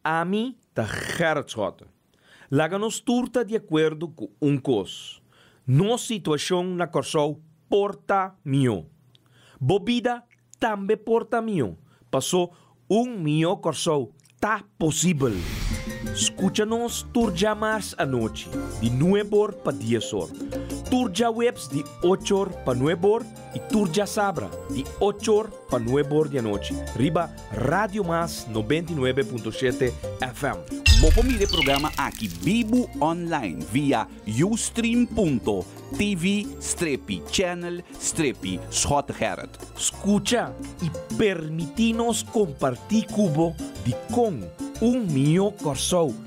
Ami ta Gerrit Schotten. Laga nos tur ta di akuerdo ku un kos, nos situashon na Kòrsou por ta mihó. Bo bida tambe por ta mihó, pasó un mihó Kòrsou ta posibel! Skucha nos tur dja mars anochi di nueb or pa dies or, tur djaweps di och or pa nueb or, Y tur djasabra di ocho or pa nuebe or di anochi riba Radio Mas noventa y nuebe punto shete FM. Bo por mira e programa aki bibu online via ustream.tv strepi channel strepi Schot Gerrit. Scucha y permiti nos comparti cu bo di con un mihó Corsou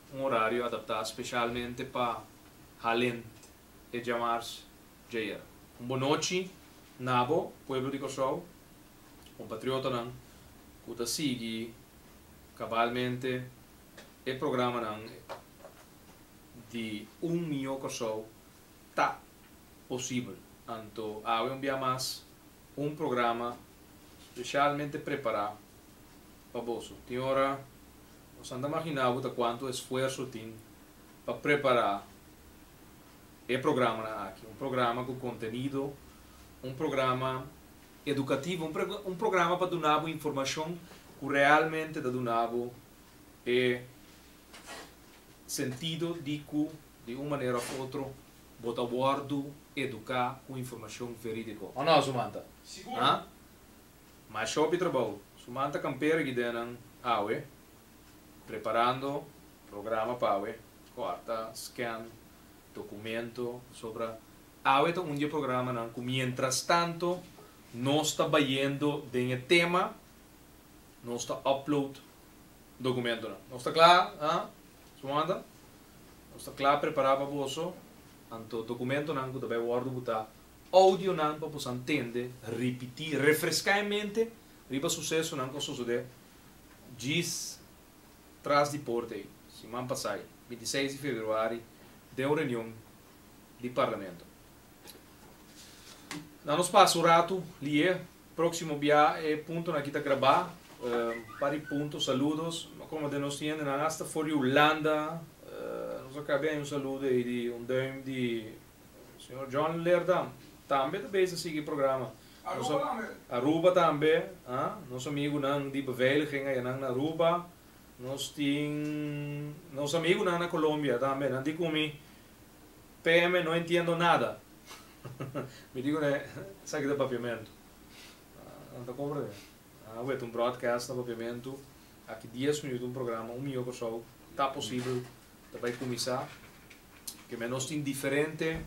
un orario adaptá specialmente pa Halend e djamars djayer. Un bon nochi nabo pueblo di Kòrsou, kompatriotonan ku ta sigui kabalmente e programanan di Un Mihó Kòrsou ta posibel. Anto awe un bia mas un programa specialmente prepará pa boso. Tin ora nos a imaginá bo ta kuantu esfuerso tin pa prepará e programanan aki. Un programa ku kontenido, un programa edukativo, un programa pa duna bo informashon ku realmente ta duna bo e sentido di ku di un manera òf otro bo ta wòrdu eduká ku informashon verídiko. Òf no, su manta? Sigur! Mas shop di trabou. Su man ta kampera gidenan awe, preparando programa pa awe, kòrta, scan, dokumento, pasobra awe ta un di e programanan ku mientras tanto nos ta bayendo den e tema, nos ta upload dokumentonan. Nos ta kla, ha? Sumanda, nos ta kla prepará pa boso, anto dokumentonan ku ta bai wòrdu butá Audionan pa boso a ntende, ripití, refreská e mente riba susesonan ku a sosodé djis tras di porta ei, siman pasai, binti seis di februari, den un reunion di Parlamento. Nan nos pasa un ratu li'é. Próksimo bia e puntonan aki ta grabá. Un par di punto, saludos. Mi a kòrda den nos tin hendenan asta for di Hulanda. Nos a ka bia un saludo ei di un duim di. Señor John Leerdam tambe ta bezig sigui e programa. Aruba tambe. Aruba tambe, a, nos amigunan di beveiliging ayanan na Aruba. Nos tin nos amigunan na Colombia tambe, nan di cu mi, PM no entiendo nada. mi di cu nan, esaki ta Papiamento. Nan ta comprende. Nan a wet un broadcast na Papiamento, aki dies minuut un programa, un miyo Kòrsou, ta posibel ta bay cuminsa. Ke men nos tin diferente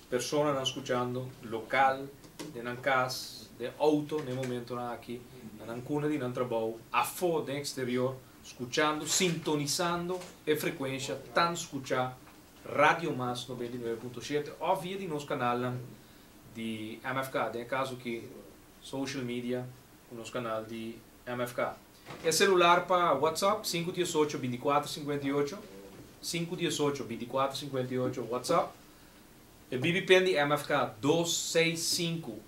personanan skuchando, lokal, den nan kas, den outo na e momentonan aki, na nan kunda di nan trabou, afó den eksterior, skuchando, sintonisando e frekuensha tan skuchá Radio Mas noventa i nueve punto shete òf via di nos kanalnan di MFK, den e kas aki, social media ku nos kanal di MFK. E celular pa WhatsApp sinku diesocho binticuatro singuenta i ocho, sinku diesocho binticuatro singuenta i ocho WhatsApp, e BBPen di MFK dos seis sinku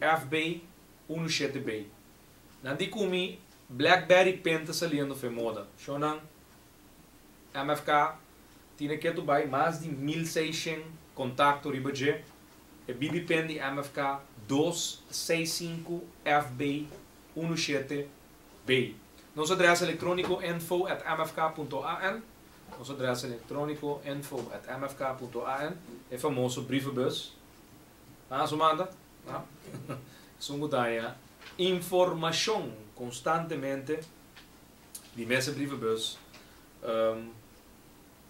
FB unu shete B. Nan di cu mi Blackberry pen ta saliendo fe moda, sho nan MFK tine ke tu bay mas di mil seishen contacto riba dje, e BBPen di MFK dos seis sinku FB Unu shete bay. Nos adres electronico info at mfk punto an Nos adres electronico info at mfk punto an E famoso brievenbus a su manda a esun cu daña informacion constantemente di mester brievenbus.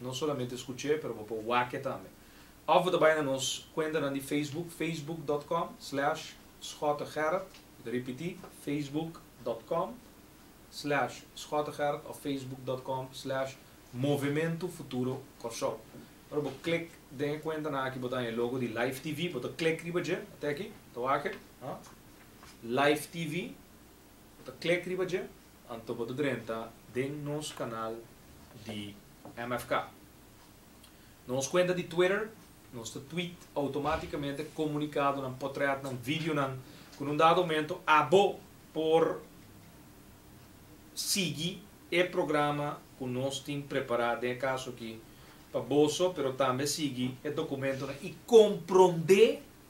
No solamente scuch'é, pero bo por wac'é tambe. Of bo ta bay na nos cuentanan di Facebook, facebook dot com slash schotegerrit, mi ta ripití, facebook dot com slash schotegerrit of facebook dot com slash Movemento Futuro Kòrsou. Ora bo klik den e cuentanan aki bo ta haña e logo di Life TV, bo ta klik riba dje, ta aki, ta wak e, Life TV. Bo ta klik riba dje, anto bo ta drenta den nos kanal di MFK. Na nos kuenta di Twitter, nos ta tweet outomatikamente komunikadonan, potrètnan, videonan ku na un dado momento abo por sigui e programa ku nos tin prepará den e kaso aki pa boso, pero tambe sigui e dokumentonan i komprondé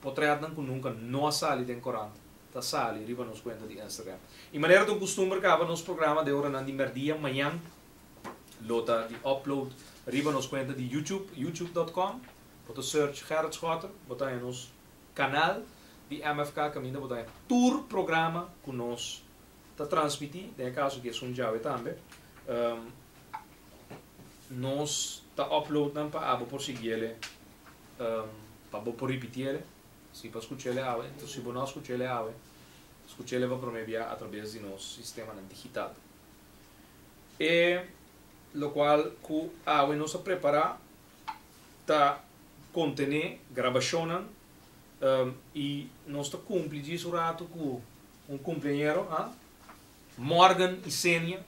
Potretnan ku nunka no a sali den korant ta sali riba nos kuenta di Instagram. I manera ta un kustumber kaba nos programa de oranan di mèrdia mañan lo ta di upload riba nos kuenta di YouTube, youtube dot com. Bo ta search Gerrit Schotter, bo ta haña nos kanal di MFK kaminda bo ta haña tur programa ku nos ta transmití, den e kaso aki es un djawe tambe. Nos ta upload nan pa abo por siguiele. pa bo por ripiti el, si pa skucha el awe, entos si bo no a skucha el awe, skucha el pa prome bia atrabes di nos sistemanan digital. E lokual ku awe nos a prepará ta kontené grabashonnan i nos ta kumpli dje su ratu ku un kumpleañero, a? Morgan Isenia.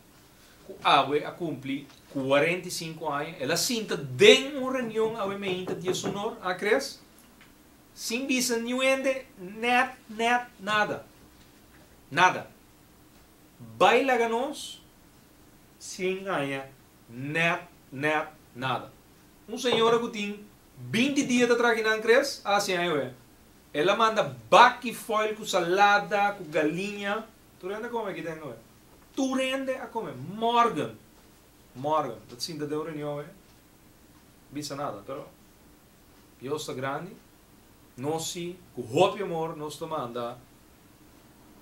ku awe a kumpli kuarenta i sinku aña, el a sinta den un reunion awe meinta di e sunor a kres, sin bisa niun hende nèt, nèt, nada, nada. Bai laga nos sin haña nèt, nèt, nada. Un señora ku tin binti dia ta traki nan kres a hasi aña awe. El a manda baki foil ku salada, ku galiña. Tur hende a come aki den oe. Tur hende a come morgen. Morgen ta sinta den un reunion e bisa nada pero Dios ta grandi nos si cu hopi amor nos ta manda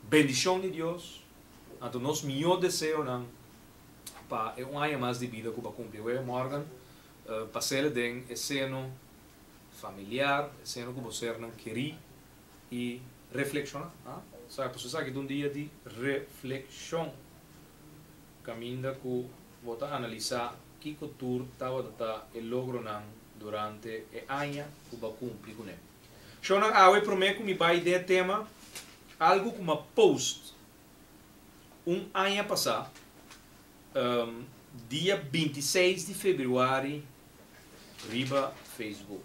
bendicion di Dios anto nos miyo deseonan pa e un aña mas di bida cu ba cumpli awe morgen pa sele den e seno familiar e seno cu bo sernan keri. i reflexiona. A sa pasobra esaki ta un dia di reflexion caminda cu bo ta analisa kico tur tabata ta e logronan durante e aña cu bo a cumpli cu ne. Shownan awe prome cu mi bay den e tema algo cu mi a post un aña pasa dia binti i seis di februari riba Facebook.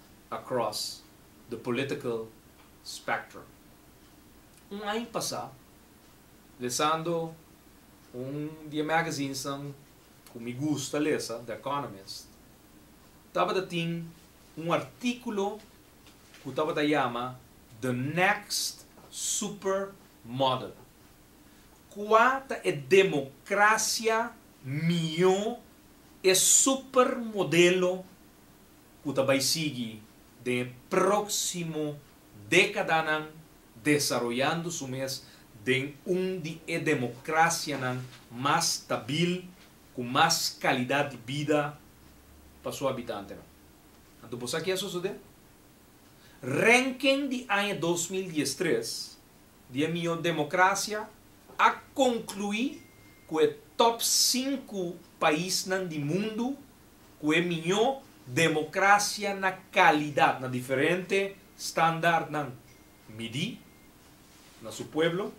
across the political spectrum. Un aña pasá, lesando un di e magazinsnan ku mi gusta lesa, The Economist, tabata tin un artíkulo ku tabata yama The Next Super Model. Kua ta e demokrasia mihó, e super modelo? ku ta bai sigui den e próksimo dékadanan desaroyando su mes den un di e demokrasianan mas stabil ku mas kalidat di bida pa su habitantenan. Anto bo sa ke a sosodé? Rènken di aña dos mil dies tres di e mihó demokrasia a konkluí ku e tòp sinku paisnan di mundu ku e miñó demokrasia na kalidat na diferente standartnan midí na su pueblo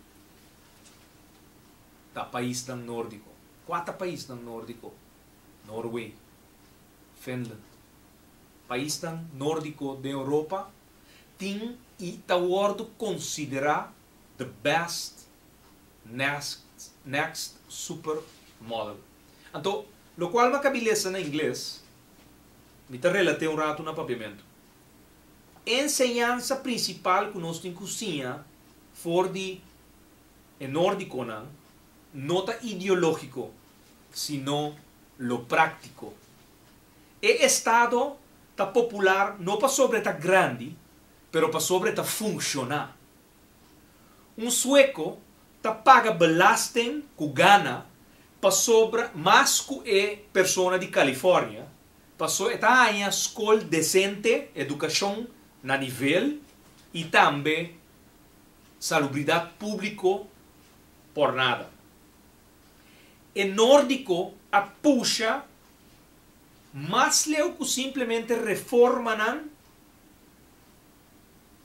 ta paisnan nórdiko. Kua ta paisnan nórdiko? Norway, Finland. Paisnan nórdiko den Europa tin i ta wòrdu konsiderá the best next super model. Anto, lo cual ma cabi lesa na ingles, mi ta relate un rato na Papiamento. E enseñansa principal cu nos tin cu siña for di e Nordiconan no ta ideologico, sino lo practico. E Estado ta popular no pasobra e ta grandi, pero pasobra e ta funciona. Un sueco ta paga belasting cu gana pasobra mas cu e persona di California paso e ta haña scol decente, educacion na nivel y tambe salubridad publico por nada. E Nordico a pusha mas leu cu simplemente reformanan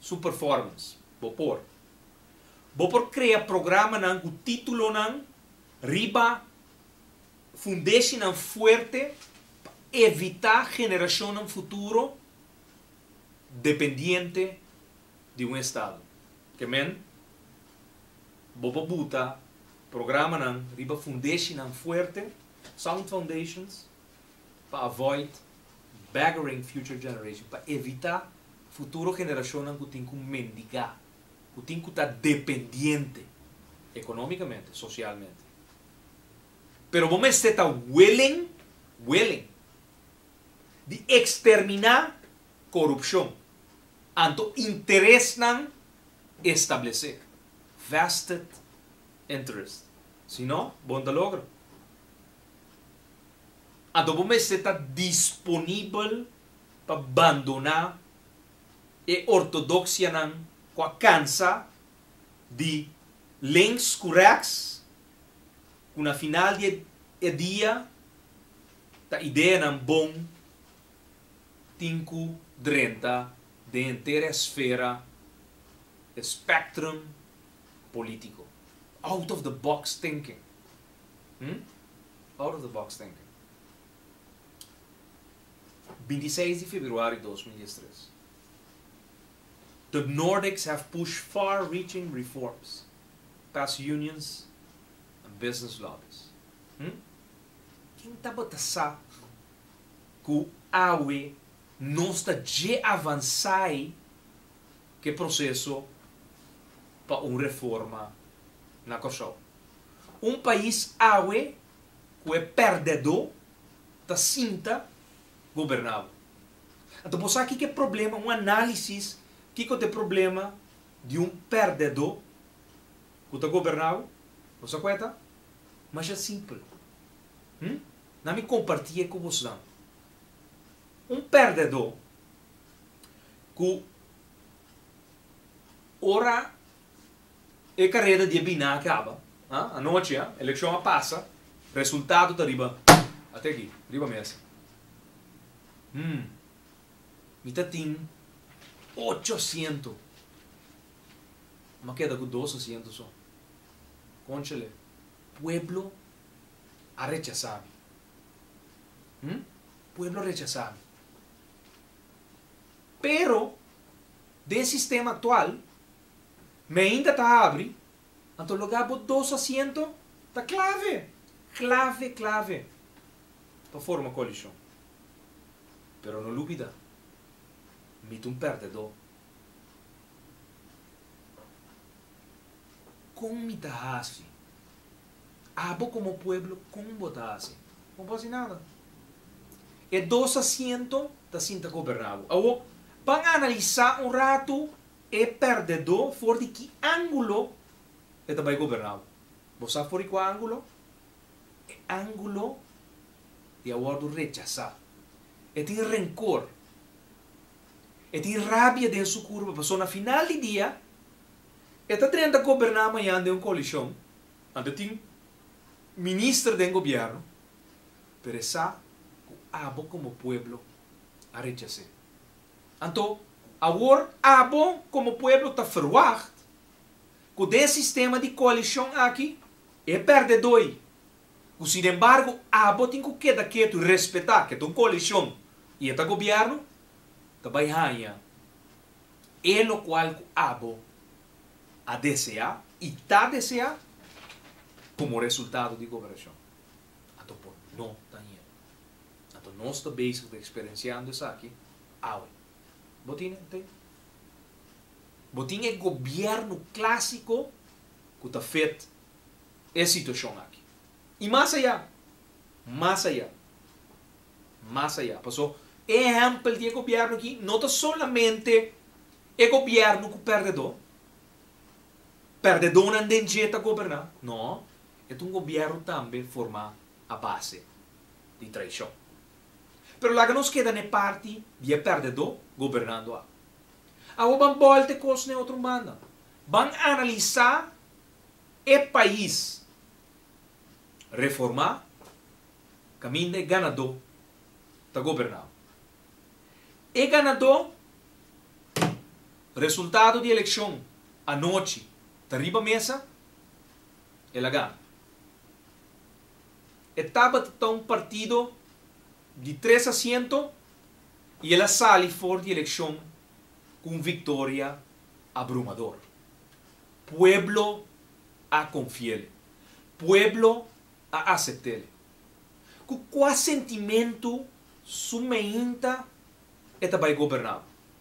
Su performance. Bo por. Bo por crea programanan cu titulonan riba fundeshinan fuerte pa evita generacionnan futuro dependiente di un estado. Ke men bo por buta programanan riba fundeshinan fuerte, sound foundations. pa avoid beggaring future generation, pa evita futuro generacionnan cu tin cu mendiga, cu tin cu ta dependiente economicamente, socialmente. Pero bo mester ta willing, willing, di extermina corupcion anto interesnan establece, vested interest, si no bo no ta logra. Adobo mester ta disponibel pa bandoná e ortodoksianan ku a kansa di links ku rèks, ku na final di e dia ta ideanan bon tin ku drenta den henter e esfera, e spectrum polítiko. Out of the box thinking. Hm? Out of the box thinking. Binti i seis di februari dos mil dies tres. The Nordics have pushed far reaching reforms past unions and business lobbies. Hm? Kin tabata sa ku awe nos ta dje avansá ei ku e proseso pa un reforma na Kòrsou? Un pais awe ku e pèrdedó ta sinta goberná bo. Anto bo sa kiko e problema, un análisis kiko ta e problema di un pèrdedó ku ta goberná bo? Bo sa ku e ta? Masha simpel. Hm? Na mi kompartí e ku bosnan. Un pèrdedó ku ora E kareda di e bina a kaba, ha? Anochi, ha? Elekshon a pasa, resultado ta riba, ate aki, riba mesa. Hm, mi ta tin ocho asiento, mi a keda ku dos asiento so. Konchele, pueblo a rechasa mi. Hm, pueblo a rechasa mi. Pero, den sistema aktual. Mainta ta habri, anto lugá bo dos asiento ta clave, clave, clave pa forma coalicion. Pero no lubida, mi ta un perdedó. Con mi ta haci? Abo como pueblo con bo ta haci? No bo haci nada. E dos asiento ta sinta goberná bo. Awo, ban analisá un rato. E perdedó for di ki ángulo e ta bai goberná bo? Bo sa for di kua ángulo? E ángulo di a wòrdu rechasá. E tin renkor. E tin rabia den su kurpa pasobra na final di dia e ta drenta goberná mañan den un koalishon, anto e tin minister den gobièrnu, pero e sa ku abo komo pueblo a rechas'é. Anto, awor abo komo pueblo ta ferwagt ku den sistema di koalishon aki e pèrdedói, ku sinembargo abo tin ku keda ketu respetá ke ta un koalishon i e ta gobièrnu, ta bai haña e lokual ku abo a deseá i ta deseá komo resultado di goberashon. Anto por no ta ña. Anto nos ta bezig ta eksperensiando esaki awe. Bo tin e te? Bo tin e gobièrnu klásiko ku ta fet e situashon aki? I mas ayá! Mas ayá! Mas ayá! Paso, e ehèmpel di e gobièrnu aki no ta solamente e gobièrnu ku pèrdedó, pèrdedónan den dje ta goberná. No, e ta un gobièrnu tambe formá a base di traishon. Pero laga nos keda na e parti di e perdedó gobernando ak. Awo ban bòlta e kos na e otro banda. Ban analisá e pais reformá kaminda e ganadó ta gobernando. E ganadó resultado di elekshon anochi ta riba mesa, el a gana. E tabata ta un partido di tres asiento y el a sali for di eleccion cu un victoria abrumador. Pueblo a confiel. Pueblo a aceptel. Cu cua sentimento su meinta e ta bay gobernabo?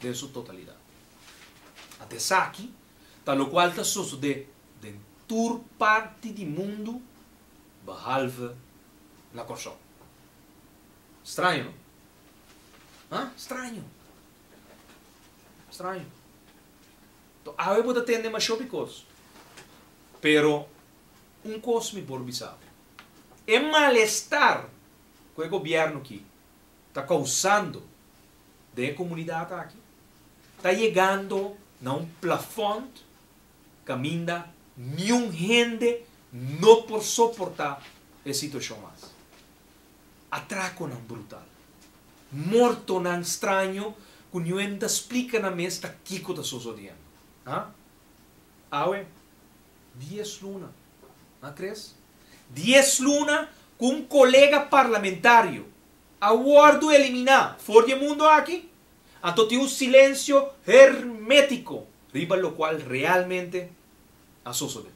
den su totalidat. Ata esaki ta lokual ta sosodé den tur parti di mundu behalve na Kòrsou. Straño, no? Ha? Straño. Straño. Tò, awe bo ta tende mashó bikos. Pero un kos mi por bisa bo. E malestar ku e gobièrnu ki ta kousando den e komunidat aki ta yegando na un plafond kaminda niun hende no por soportá e situashon mas. Atrakonan brutal. Mortonan straño ku niun hende ta splika nan mes ta kiko ta sosodiendo. Ha? Awe, dies luna, a tres? Dies luna ku un kolega parlamentario, a wòrdu eliminá for di e mundu aki, anto tin un silensio hermétiko riba lokual realmente a sosodé.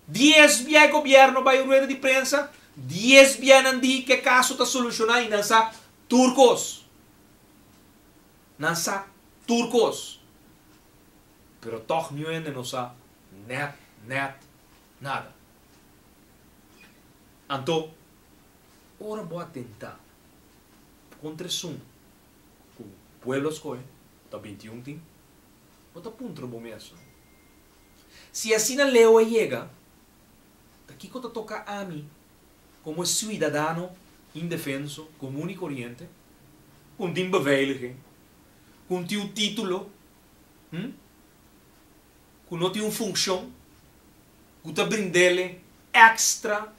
Dies bia e gobièrnu a bai un rueda di prensa, dies bia nan di ku e kaso ta solushoná i nan sa tur kos. Nan sa tur kos. Pero tòg nuhende no sa nèt, nèt nada. Anto. Ora bo a tentá kontra esun ku pueblo a skohe, ta binti un tin, bo ta puntra bo mesun, Si asina leu a yega, ta kiko ta toka ami komo e suidadano indefenso, komun i koriente, ku no tin beveiliging, ku no tin un título, hm, ku no tin un funshon ku ta brind'é ekstra?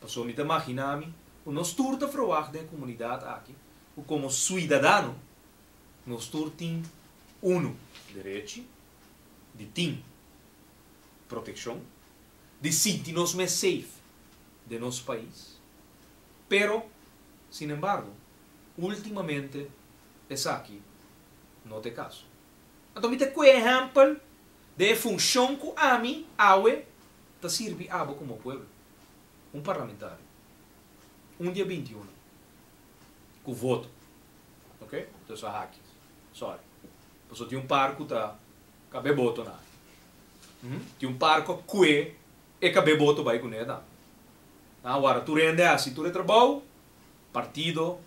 Pasobra mi ta maginá mi ku nos tur ta frowag den e komunidat aki ku komo suidadano nos tur tin unu derechi di tin protekshon, di sinti nos mes seif den nos pais. Pero, sinembargo, últimamente esaki no ta e kaso. Anto mi ta kue ehèmpel den e funshon ku ami awe ta sirbi abo komo pueblo, un parlamentario, un di e binti unu ku voto, ok, ta so haki, sorry, paso tin un par ku ta kab'é boto na, hm, tin un par ku a kue e kab'é boto bai kuné tambe. Nan a wòrdu tur hende hasi tur e trabou, partido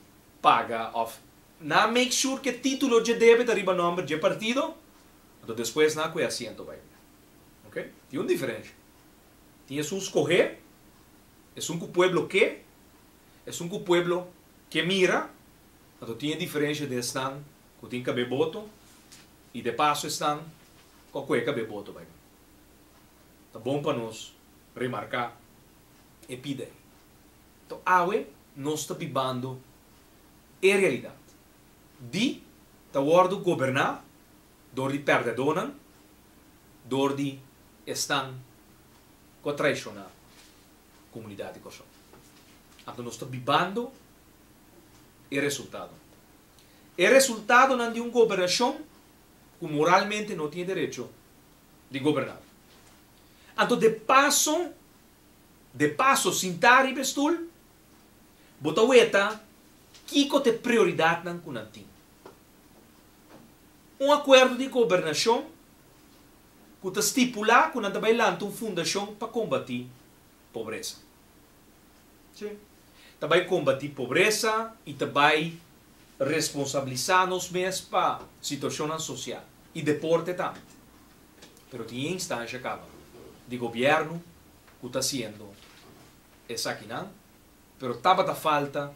paga òf nan a make sure ku e título dje debe ta riba nòmber dje partido, anto despues nan a kue asiento bai kuné. Ok, tin un diferensha. Tin esun skohé, esun ku pueblo ke, esun ku pueblo ke mira, anto tin e diferensha den esnan ku tin kab'é boto i de paso esnan ku a ku'é kab'é boto bai nan. Ta bon pa nos remarká e pida ei. Anto awe nos ta bibando e realidat di ta wòrdu goberná dor di perdedónan, dor di esnan ku a traishoná komunidat di Kòrsou. Anto nos ta bibando e resultado. E resultadonan di un gobernashon ku moralmente no tin e derecho di goberná. Anto de paso, de paso sintá riba e stul, bo ta weta kiko ta e prioridatnan ku nan tin. un akuerdo di gobernashon ku ta stipulá ku nan ta bai lanta un fundashon pa kombatí pobresa. Si, ta bai kombatí pobresa i ta bai responsabilisá nos mes pa situashonnan sosial i deporte tambe. Pero tin e instansha kaba di gobièrnu ku ta hasiendo esakinan, pero tabata falta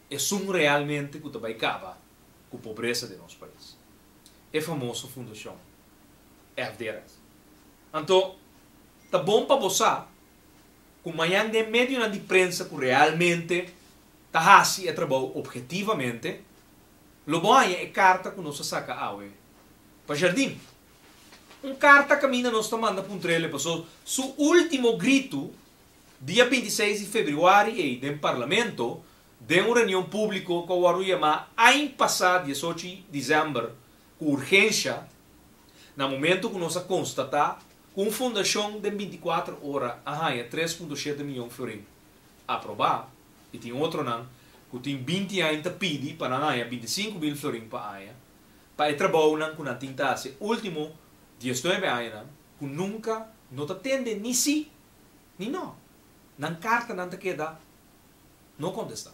esun realmente ku ta bai kaba ku pobresa den nos pais, e famoso fundashon FDRS. Anto, ta bon pa bo sa ku mañan den medionan di prensa ku realmente ta hasi e trabou obhetivamente, lo bo haña e karta ku nos a saka awe pa Jardín. Un karta kaminda nos ta manda puntrele paso su último gritu dia binti seis di februari ei den Parlamento den un reunion públiko ku a wòrdu yamá ain pasá diesocho di disember ku urgensha, na momentu ku nos a konstatá ku un fundashon den binti kuater ora a haña tres punto shete miyon florin aprobá i tin otronan ku tin binti ain ta pidi pa nan haña binti sinku mil florin pa aña pa e trabounan ku nan tin ta hasi e último dies nuebe añanan ku nunka no ta tende ni sí ni no. Nan kartanan ta keda. No contesta.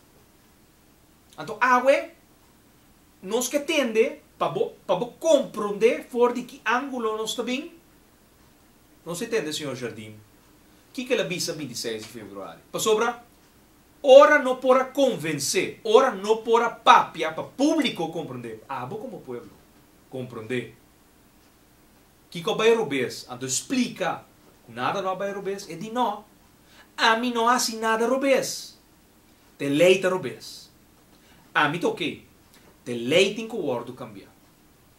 Anto awe nos ke tende pa bo pa bo compronde for di ki angulo nos ta bin. Nos e tende Señor Jardine kiko el a bisa binti i seis di februari. Pasobra ora no por a convence, ora no por a papia pa publico compronde, abo como pueblo compronde. Kiko bay robes? Anto splika ku nada no a bay robes? E di, No, ami no hasi nada robes. Te lei ta robes. Ami ta oké. Te lei tin ku wòrdu kambia.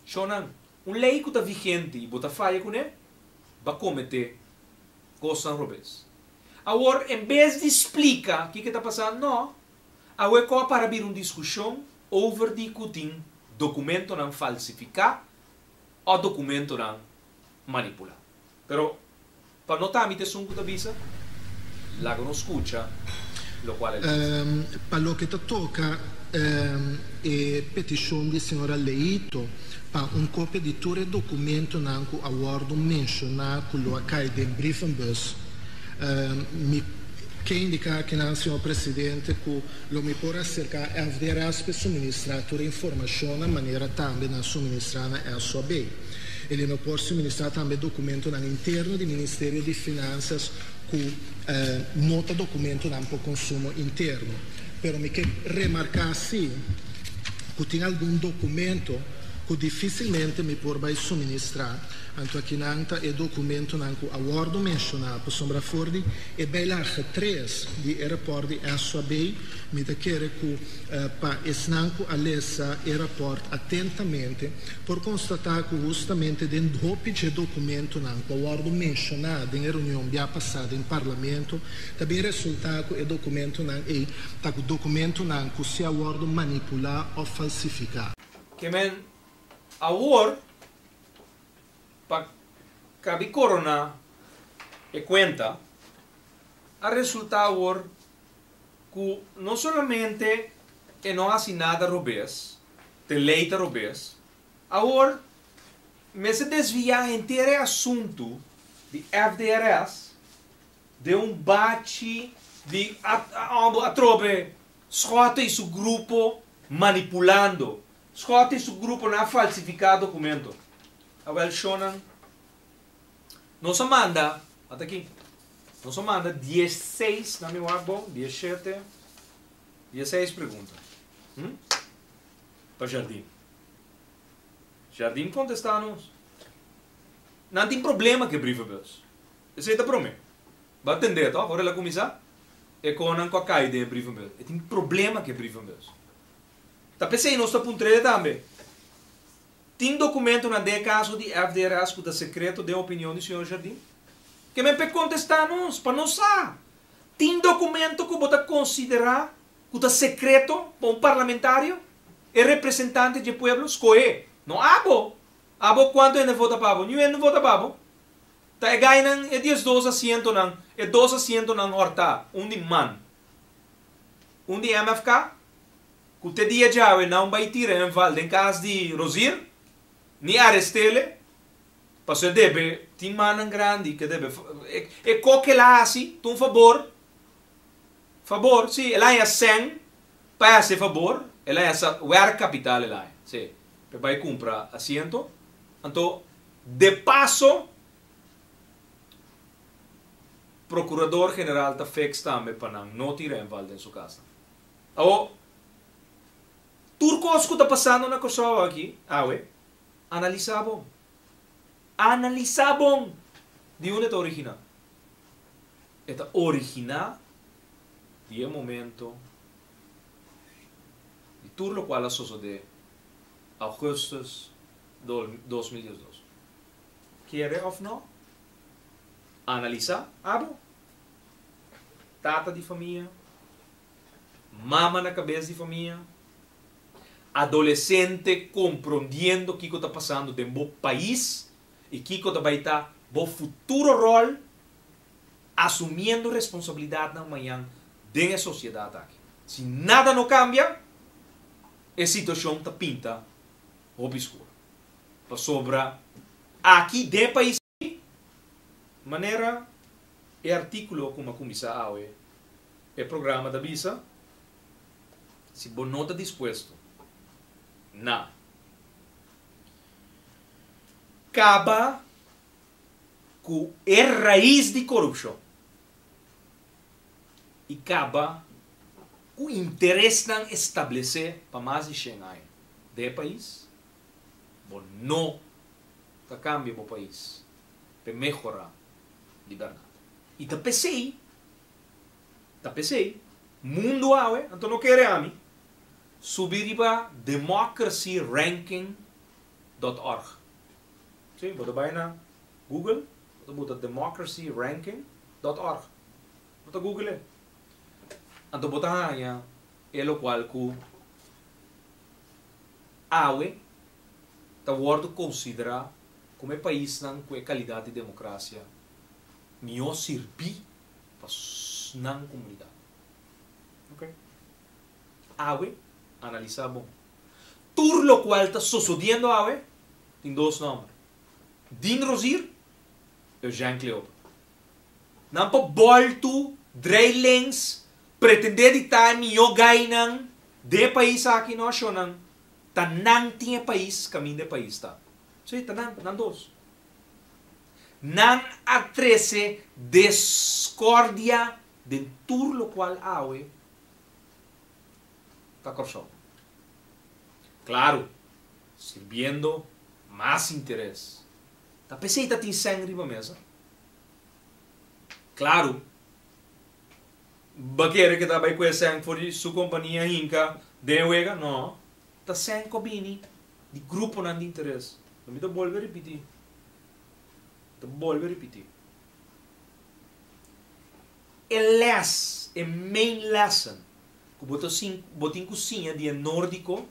Shonnan, un lei ku ta vigente i bo ta faya kuné, ba kometé kosnan robes. Awor, en bes di splika ke ke ta pasá, no, awe kò a para bira un diskushon over di ku tin dokumentonan falsifiká, o dokumentonan manipulá. Pero pa no ta ami ta esun ku ta bisa, laga nos skucha lokual el a bisa. Pa loke ta toka e petishon di señora Leito pa un kopia di tur e dokumentonan ku a wòrdu menshoná ku lo a kai den brievenbus, mi ke indiká akinan, señor presidente, ku. Lo mi por acerca FDRS pe suministra tur e informacionnan manera tambe nan suministra na SOB. Eley no por suministra tambe documentonan interno di Ministerio di Finanzas cu no ta documentonan pa consumo interno. Pero mi ke remarca si cu tin algun documento cu dificilmente mi por bay suministra, anto akinan ta e documentonan cu a wordo menciona pasobra for di E bijlage tres di e rapòrt di Ezra Bay, mi ta kere ku pa esnan ku a lesa e rapòrt atentamente por konstatá ku hustamente den hopi dje dokumentunan ku a wòrdu menshoná den e reunion bia pasá den Parlamento ta bin resultá ku e dokumentunan ei ta dokumentunan ku si a wòrdu manipulá òf falsifiká. Ke men awor. pa kabi koroná e kuenta, a resultá awor ku no solamente e no hasi nada robes, te lei ta robes, awor mester desviá henter e asuntu di FDRS den un bachi di atrobe Schotten i su grupo manipulando Scott i su gruponan a falsifiká dokumento. Awèl shownan nos a manda, mat aki, nos a manda dies seis, na mi wak bo, dies shete, dies seis pregunta, hm, pa Jardín. Jardín kontestá nos, Nan tin problema ku e brievenbus. Esei ta promé. Bo a tendé tòg, ora el a kuminsá, e konan ku a kai den e brievenbus. E tin problema ku e brievenbus. Ta p'esei nos ta puntr'e tambe, Tin dokumentunan den e kaso di FDRS ku ta sekreto den opinion di señor Jardin? Ke men p'e kontestá nos, pa nos sa. Tin dokumento ku bo ta konsiderá ku ta sekreto pa un parlamentario, e representante dje pueblo skohé? No abo. Abo kuantu hende vota pa bo? Niun hende no vota pa bo. Ta e gainan e diesdos asientonan, e dos asientonan hòrtá, un di man, un di MFK cu te dia djawe nan bay tira en val den cas di Rosier, ni arestele, paso e debe, tin mannan grandi ke debe, e co ke el a haci, ta un fabor, fabor, si, el a haña cen pa e haci e fabor, el a haña werkkapital el a haña, si, pa e bay cumpra asiento, anto de paso, Procurador General ta fix tambe pa nan no tira en val den su casnan. Awor, tur cos cu ta pasando na Kòrsou aki awe, analisa bon. Analisa bon di unda e ta origina. E ta origina di e momento di tur locual a sosode Augustus dos mil diesdos. Kere of no, analisa abo. tata di famia, mama na cabes di famia, adolescente comprondiendo kico ta pasando den bo pais y kico ta bay ta bo futuro rol asumiendo responsabilidadnan mañan den e sociedad aki. Si nada no cambia e situacion ta pinta hopi scuro pasobra aki den pais. manera e artíkulo ku mi a kuminsá awe e programa ta bisa, si bo no ta dispuesto na kaba ku e rais di korupshon i kaba ku interesnan establesé pa mas di shen aña den e pais, Bo no ta cambia bo pais pe mehora di berdad. Y ta pesey, ta pesey, mundo awe, anto no kere ami, subi riba democracyranking.org. Sí, bo ta bay na Google, bo ta buta democracyranking.org. Bo ta google, anto bo ta hanja e locual cu. awe ta wòrdu konsiderá komo e paisnan ku e kalidat di demokrasia mihó sirbí pa nan komunidat. Ok. Awe, analisá bon. Tur lokual ta sosodiendo awe tin dos nòmber, Dean Rosier, Eugène Cleopa. Nan pa boltu drei lens pretendé di ta e mihó gainan den e pais aki, no ashonan ta nan tin e pais kaminda e pais ta. Sí, ta nan, nan dos. Nan a trese descordia den tur lokual awe ta Kòrsou. Klaru, sirbiendo mas interes Ta p'esei ta tin sèn riba mesa? Klaru! Bo a kere ke ta bai ku e sèn for di su kompania hinka den e wega? Nò. Ta sèn ku a bini di gruponan di interes. Lo mi ta bolbe a ripití. Mi ta bolbe a ripití. E lès, e main lesson ku bo ta sin, bo tin ku siña di e nórdiko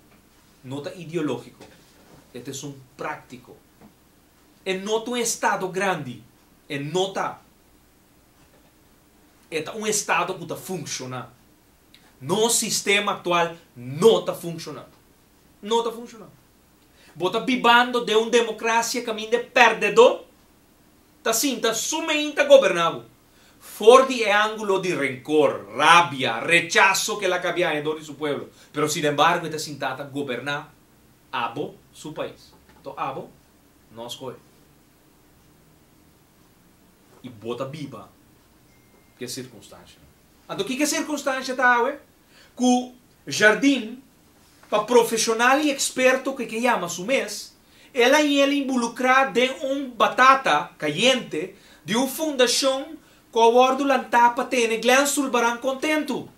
no ta ideológiko. E ta esun práktiko. E no ta un estado grandi, e no ta. E ta un estado ku ta funkshoná. Nos sistema aktual no ta funkshoná. No ta funkshoná. Bo ta bibando den un demokrasia kaminda e pèrdedó ta sinta su meen ta goberná bo. For di e ángulo di renkor, rabia, rechaso ke el a kabia aña dor di su pueblo, pero sinembargo e ta sintá ta goberná. Abo su pais. To abo nos koe. I bo ta biba ke sirkunstansha. Anto kiko e sirkunstansha ta awe? Ku Jardin, pa profeshonal i eksperto ku e ke yama su mes, el a yela inbulukrá den un batata kayente di un fundashon ku a wòrdu lantá pa tene Glen Sulbaran kontentu.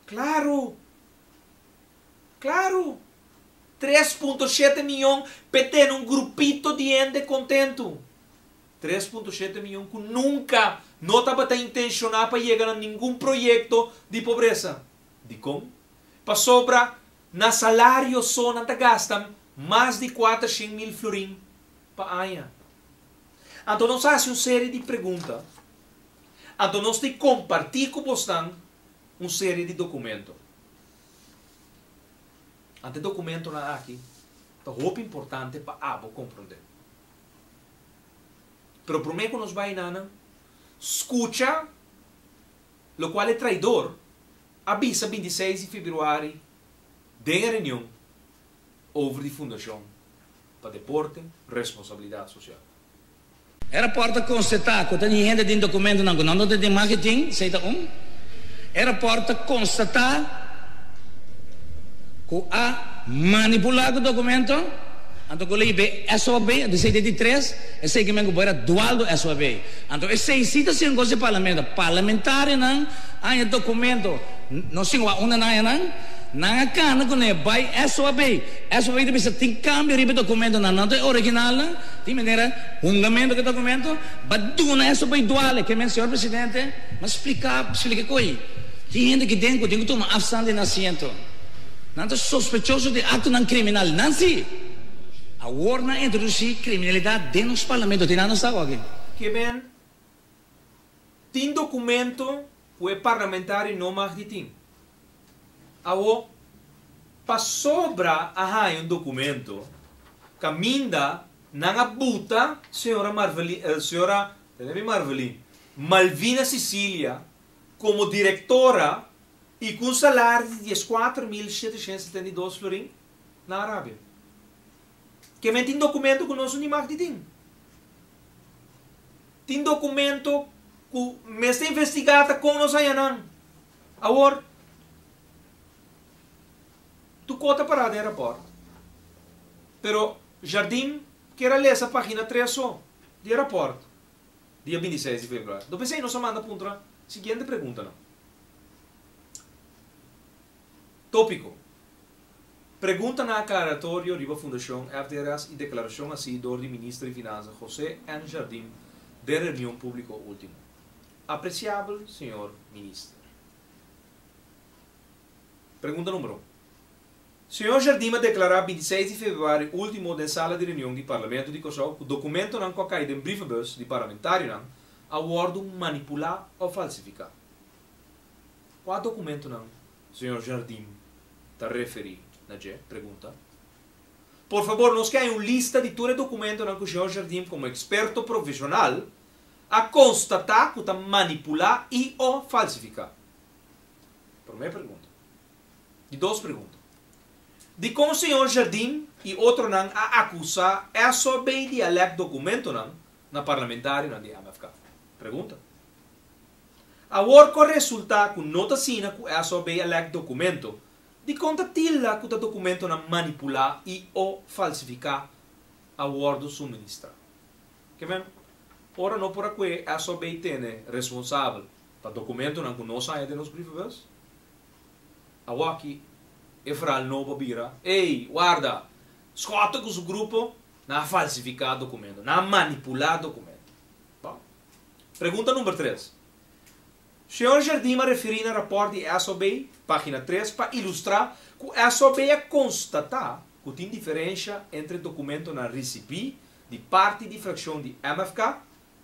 Klaru! Klaru! Tres punto shete miyon p'e tene un grupito di hende kontentu. Tres punto shete miyon ku nunka no tabata intenshoná pa yega na ningun proyekto di pobresa. Dikon? Pasobra na salario so nan ta gasta mas di kuater shen mil florin pa aña. Anto nos a hasi un serie di pregunta. Anto nos ta kompartí ku bosnan un serie di dokumento. Anto e dokumentonan aki ta hopi importante pa abo komprondé. Pero promé ku nos bai na nan, skucha lokual e traidor a bisa binti i seis di febrüari den e reunion over di Fundashon pa Deporte, Responsabilidat Sosial. E rapòrt ta konstatá ku ta di hende den dokumentunan ku nan tabata den maketin, esei ta un. E rapòrt ta konstatá ku a manipulá ku dokumentu, anto ku lei be SOB, a di esei ta di tres, esei kimen ku por a dualdo SOB. Anto esei si ta siña kos di parlamento. Parlamentarionan haña dokumentu, no siña wak unda nan haña nan, nan a kanda kuné bai SOB, SOB ta bisa tin kambio riba e dokumentunan, nan ta e originalnan. Tin manera hungamento ke ta argumento ba duna esto bay duale ke men señor presidente mas splica splica koe tin hende ki den ku tin ku tuma afstand den asiento nan ta sospechoso den acto nan criminal nan si awor nan introduci criminalidad den nos parlamento tin nan no sa aki. Ke men tin documento ku e parlamentario no mag di tin. Awo, pasobra a haña un dokumento, kaminda nan a buta señora Marvelin, señora, ta bira di Marvelin, Malvina Cecilia komo direktora i ku un salaris di dies kuater mil sheteshent setenta i dos florin na Arabia. Ke men tin dokumento ku nos Unimacti tin. Tin dokumento ku men sta investigá ta kon nos haña nan. Awor, tu kó ta pará den rapòrt, pero Jardín kier a lesa página tres so di e rapòrt di e bintiseis di februario. Lo p'esei nos a manda puntra siguiente preguntanan. Tópiko, Pregunta na aklaratorio riba Fundashon FDRS i deklarashon hasi dor di Minister di Finansa José N. Jardín den reunion públiko último. Apreciabel Señor Minister. Pregunta number un. Señor Jardim a declara binti seis di Februari ultimo den sala di reunion di Parlamento di Cosou cu documentonan cu a cay den brievebus di Parlamentarionan a wordo manipula of falsifica. Cua documentonan Señor Jardim ta referi na dje? Pregunta. Por fabor nos ke hay un lista di tur e documentonan cu Señor Jardim como experto profesional a konstatá ku ta manipulá i o falsifiká? Promé pregunta. Di dos pregunta. Dikon señor Jardin i otronan a akusá Esso bay di a lèk dokumentonan na parlamentarionan di MFK? Pregunta. Awor ku a resultá ku no ta asina ku Esso bay a lèk dokumento, dikon ta tilda ku ta dokumentonan manipulá i o falsifiká a wòrdu suministrá? Ke men, ora no por a kue SOB tene responsabel pa dokumentunan ku no saña den nos brievenbus, awoki e verhal nobo a bira, Ey, warda! Scott ku su grupo nan a falsifiká dokumento, nan a manipulá dokumento. Bo, pregunta number tres. Señor Jardin a referí na rapòrt di SOB, página tres, pa ilustrá ku SOB a konstatá ku tin diferensha entre dokumentonan risibí di parti di frakshon di MFK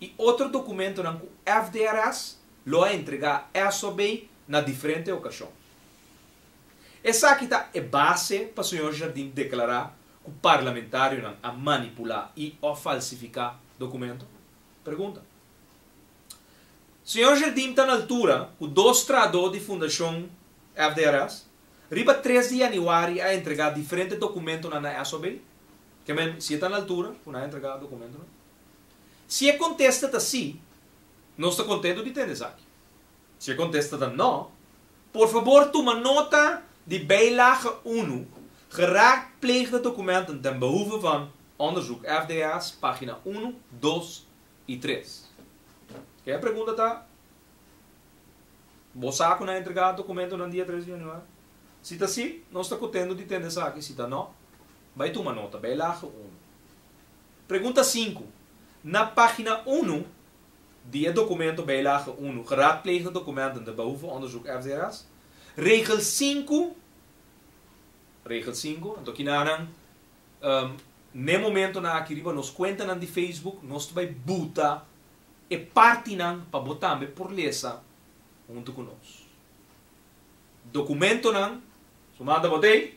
i otro dokumentonan ku FDRS lo a entregá esobe na diferente okashon. Esaki ta e base pa señor Jardin deklará ku parlamentarionan a manipulá i òf falsifiká dokumento? Pregunta. Señor Jardin ta na altura ku dos traadó di Fundashon FDRS riba tres di yanüari a entregá diferente dokumentonan na esobe? Kemen, si e ta na altura ku nan a entregá dokumentonan? Si e kontesta ta sí, nos ta kontentu di tende esaki. Si e kontesta ta nò, por fabor tuma nota di bijlage unu, Geraadpleegde documenten ten behoeve van onderzoek, FDS, página unu, dos i tres. Ku e pregunta ta, Bo sa ku nan a entregá dokumentonan dia tres di yanüari? Si ta sí, nos ta kontentu di tende esaki, si ta nò, Bai tuma nota, bai laga unu. Pregunta sinku. Na pagina unu di e dokumento bai laga unu, Geraadpleegde documenten, de Behoefteonderzoek FDRS, regel sinku, regel sinku, anto kina nan, n'e momentonan aki riba nos kuentanan di Facebook, nos ta bai buta e partinan pa bo tambe por lesa huntu ku nos. Dokumentonan, su manda bo t'ei?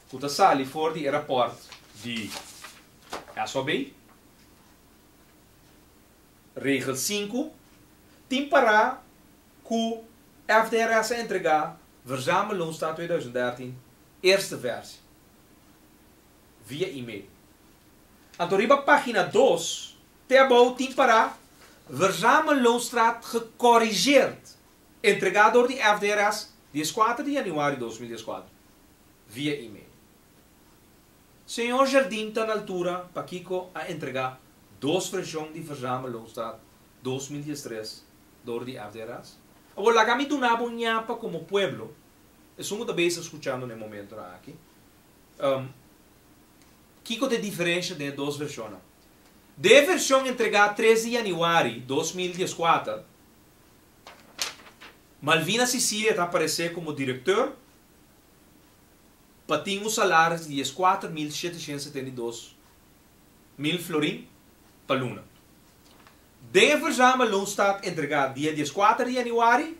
ku ta sali for di e rapòrt di SOB, Regel sinku, tin pará ku FDRS a entregá Verzamelonsdag tweeduizend dertien eerste versie via e-mail. Anto riba página dos te abou tin pará Verzamelonsdag gecorrigeerd, entregá dor di FDRS dies kuater di januari dos mil dieskuater. via email. Señor Jardin ta na altura pakiko a entrega dos vershon di Verzamel Hoofdstad dos mil diestres dor di FD Ras? Awor laga mi duna bo ñapa komo pueblo, esun ku ta bes a skuchando na e momentonan aki, kiko ta e diferensha den e dos vershonnan. Den e vershon entregá tres di yanüari dos mil dieskuater, Malvina Cicie ta aparesé komo direkteur pa tin un salaris di dieskuater mil sheteshent setenta i dos mil florin pa luna. Den e Verzama Loonstaat entregá dia dieskuater di yanüari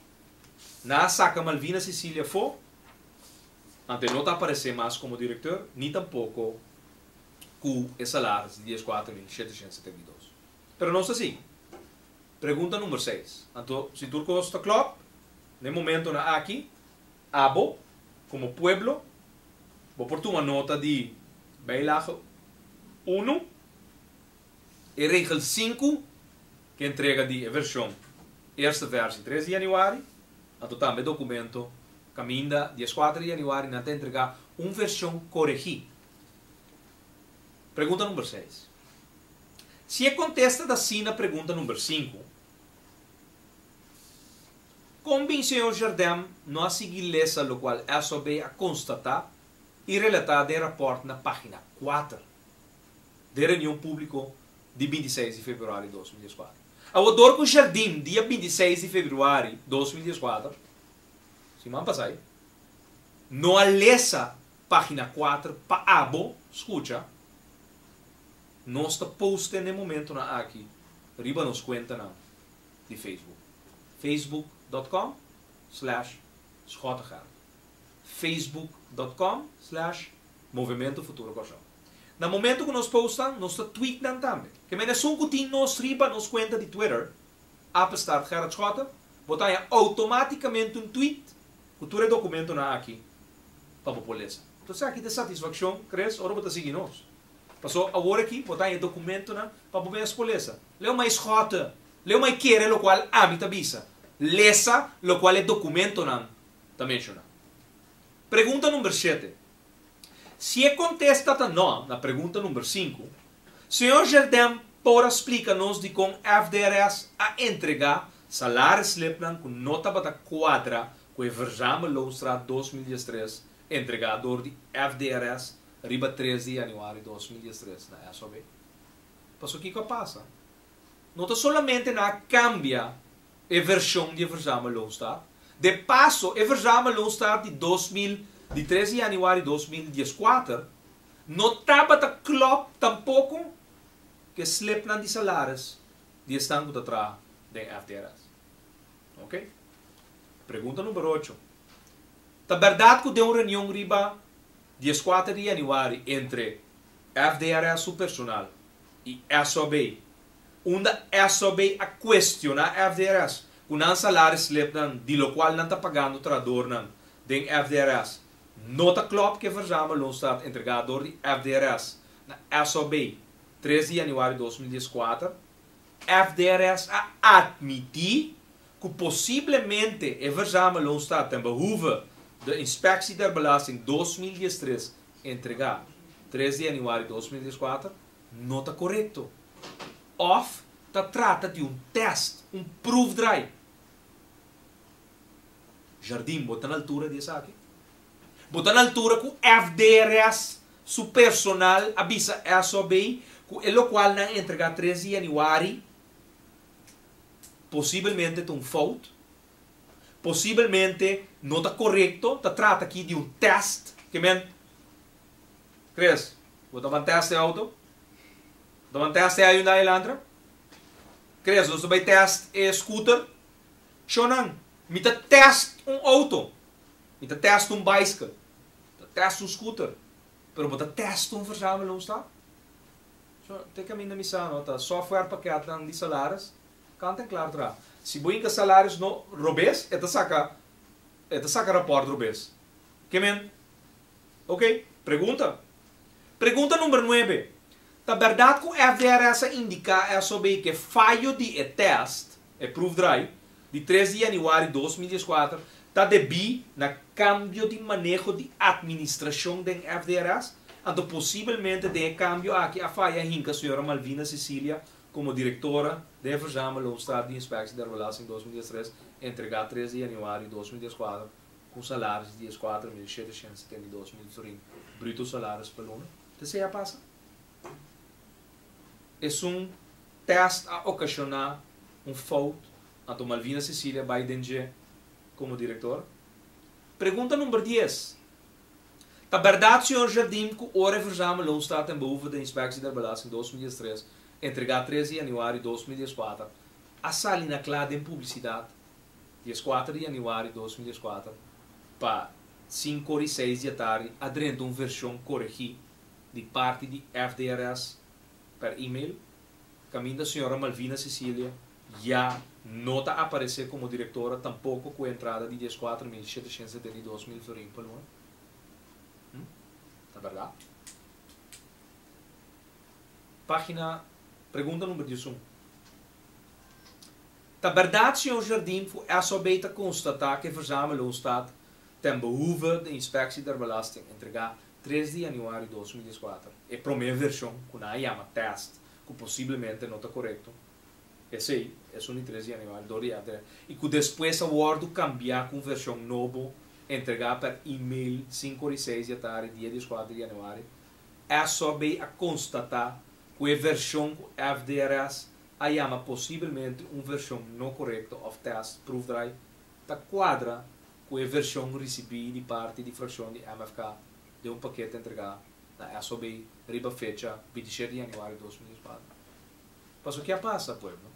na saka Malvina Cecilia afó, anto e no ta aparesé mas komo direkteur ni tampoko ku e salaris di dieskuater mil sheteshent setenta i dos. Pero nos ta sigui. Pregunta number seis. Anto si tur kos ta klòp, na e momentonan aki, Abo, komo pueblo, bo por tuma nota di bijlage unu, e regel sinku ku entrega di e vershon Eerste Versie tres di Januari, anto tambe e dokumento Kaminda dies kuater di Januari, nan ta entregá un vershon koregí. Pregunta number seis. Si e kontesta ta asina pregunta number sinku. Kon bin señor Jardem no a sigui lesa lokual SOB a konstatá i relatá den rapòrt na página kuater den reunion públiko di binti seis di februari dos mil dieskuater? Awo dor ku Jardim dia binti seis di februari dos mil dieskuater, siman pasai, no a lesa página kuater pa abo skucha, nos ta poste n'e momentunan aki riba nos kuentanan. di Facebook, facebook dot com slash Schottegeld, facebook dot com slash Movimento Futuro Kòrsou. Na momento ku nos postan, nos ta tweet nan tambe. Kèn bai na esun ku tin nos riba nos kuenta di Twitter, Apenstaart Gerard Schotten, bo ta haña outomátikamente un tweet ku tur e dokumentonan aki pa bo por lesa. Tos esaki ta e satisfakshon kres ora bo ta sigui nos. Pasó aworaki bo ta haña e dokumentonan pa bo mes por lesa. Leu mai schote, leu mai kere lokual ami ta bisa, lesa lokual e dokumentonan ta menshoná. Pregunta number shete. Si e kontesta ta no na pregunta number sinku, señor Gerdem por a splika nos dikon FDRS a entregá salarisslipnan ku no tabata kuadra ku e Verzamel Loonstraat dos mil diestres entregá dor di FDRS riba tres di yanüari dos mil diestres na SOB? Pasobra kiko a pasa? No ta solamente nan a kambia e vershon di e Verzamel Lone Star, de paso e Verzamel Lone Star di dos mil, di tres di yanüari dos mil dies kuater, no tabata klòp tampoko ku e slipnan di salaris di esnan ku ta traha den FDRS. Oke. Pregunta number ocho, Ta bèrdat ku den un reunion riba dies kuater di yanüari entre FDRS su personal y SOB. Unda SOB a cuestiona FDRS cu nan salarisslipnan di lo cual nan ta pagando trahadornan den FDRS no ta clop ke verzame lo sta entrega door di FDRS na SOB tres di januari dos mil dieskuater. FDRS a admiti cu posiblemente e verzame lo sta ten behoeve de Inspectie der Belasting dos mil diestres entregá tres di januari dos mil dieskuater no ta korekto òf ta trata di un tèst, un proefdraai. Jardín bo ta na altura di esaki? Bo ta na altura ku FDRS su personal a bisa èso abei ku e lokual nan entregá tres di januari posibelmente ta un fout? Posibelmente no ta korekto, ta trata aki di un tèst ke men Chris, bo ta ban tèst e outo? Bo ta ban tèst e Hyundai Elantra? Chris, nos ta bai tèst e scooter? Sho nan, mi ta tèst un outo, mi ta tèst un bicycle, mi ta tèst un scooter, pero bo ta tèst un verzamelungstak? Sho, te kaminda mi sa no, ta software pakètnan di salaris, Kanta klar tra. Si bo hinka salarios no robes e ta saka e ta saka raport robes. Ke men? Ok, pregunta. Pregunta number nuebe, Ta berdad ku FDRS a indiká esobe ke fayo di e test, e proefdraai, di tres di yanüari dos mil dieskuater ta debí na kambio di maneho di administrashon den FDRS? Anto posibelmente den e kambio aki a faya hinka señora Malvina Cecilia Komo direktora, Devers Jama lo un staf di inspektie der belaas in dos mil diestres a entregá tres di januario dos mil dieskuater ku un salaris di eskuater mil sheteshènt setenta i dos mil florin bruto salaris pa luna. Ta esei a pasa? Esun tèst a okashoná un fout, anto Malvina Cecilia bai den dje komo direktora? Pregunta number dies, Ta bèrdat señor Jardim ku ora e versame loon sta ten behoeve den Inspectie der Belasting dos mil diestres, entregá tres di yanüari dos mil dieskuater, a sali na kla den publisidat dieskuater di yanüari dos mil dieskuater pa sinku ora i seis di atardi adrenta un vershon koregí di parti di FDRS per e-mail? Caminda Sra. Malvina Cecilia ya no ta aparece como directora tampoco cu e entrada di dies cuater mil shetecientos setenta i dos mil florin pa luna. Hm? Ta berdad? Pagina, pregunta number diusun. Ta berdad Sr. Jardin cu SOB ta constata cu e verzamelloonstaat ten behoeve de inspectie der belasting entrega Tres di januario dos mil dies kuater, e promé vershon, ku nan a yama tèst, ku posiblemente no ta korekto, esei, esun di tres di januario dor di èpte, i ku despues a wòrdu kambiá ku un vershon nobo, entregá pèr e-mail sinku ora i seis di atardi dia dies kuater di januario, SOB a konstatá ku e vershon ku FDRS a yama posiblemente un vershon no korekto òf tèst, proefdraai, ta cuadra cu e version ricibi di parti di fraccion di MFK den un paquete entrega na SOB riba fecha bintisiete di januari dos mil dieskuater. Pasobra ke a pasa, pueblo?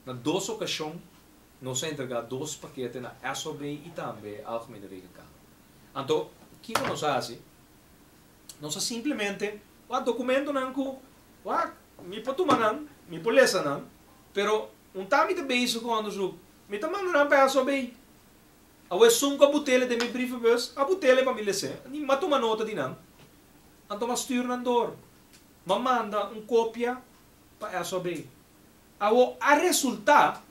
Na dos ocasion nos a entrega dos paquete na SOB y tambe Algemene Rekenkamer. Anto, kico nos a haci? Nos a simplemente wak documentonan cu wak mi por tuma nan, mi por lesa nan, pero. Un ta mi ta bezig ku onderzoek. Mi ta manda nan pa e aso bay. Awe e sunka butele den mi brievebus, a butele pa mi lese, ni ma tuma nota di nan. Anto ma stuur nan dor. Ma manda un kopia pa e aso bay. Awo a resulta,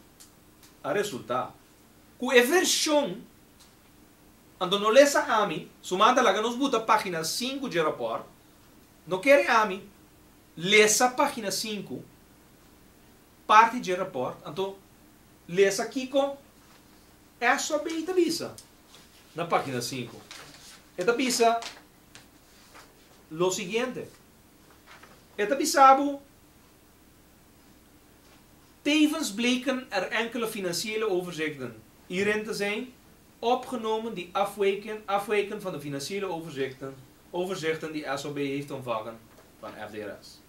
a resulta, ku e vershon anto no lesa ami, su man ta laga nos buta pagina sinku dje raport, no kere ami lesa pagina sinku. parti dje raport, anto lesa kiko SOB ta bisa na pagina sinku. E ta bisa lo siguiente, E ta bisa bo, Tevens bleken er enkele financiële overzichten hierin te zijn opgenomen die afwijken van de financiële overzichten die SOB heeft ontvangen van FDRS.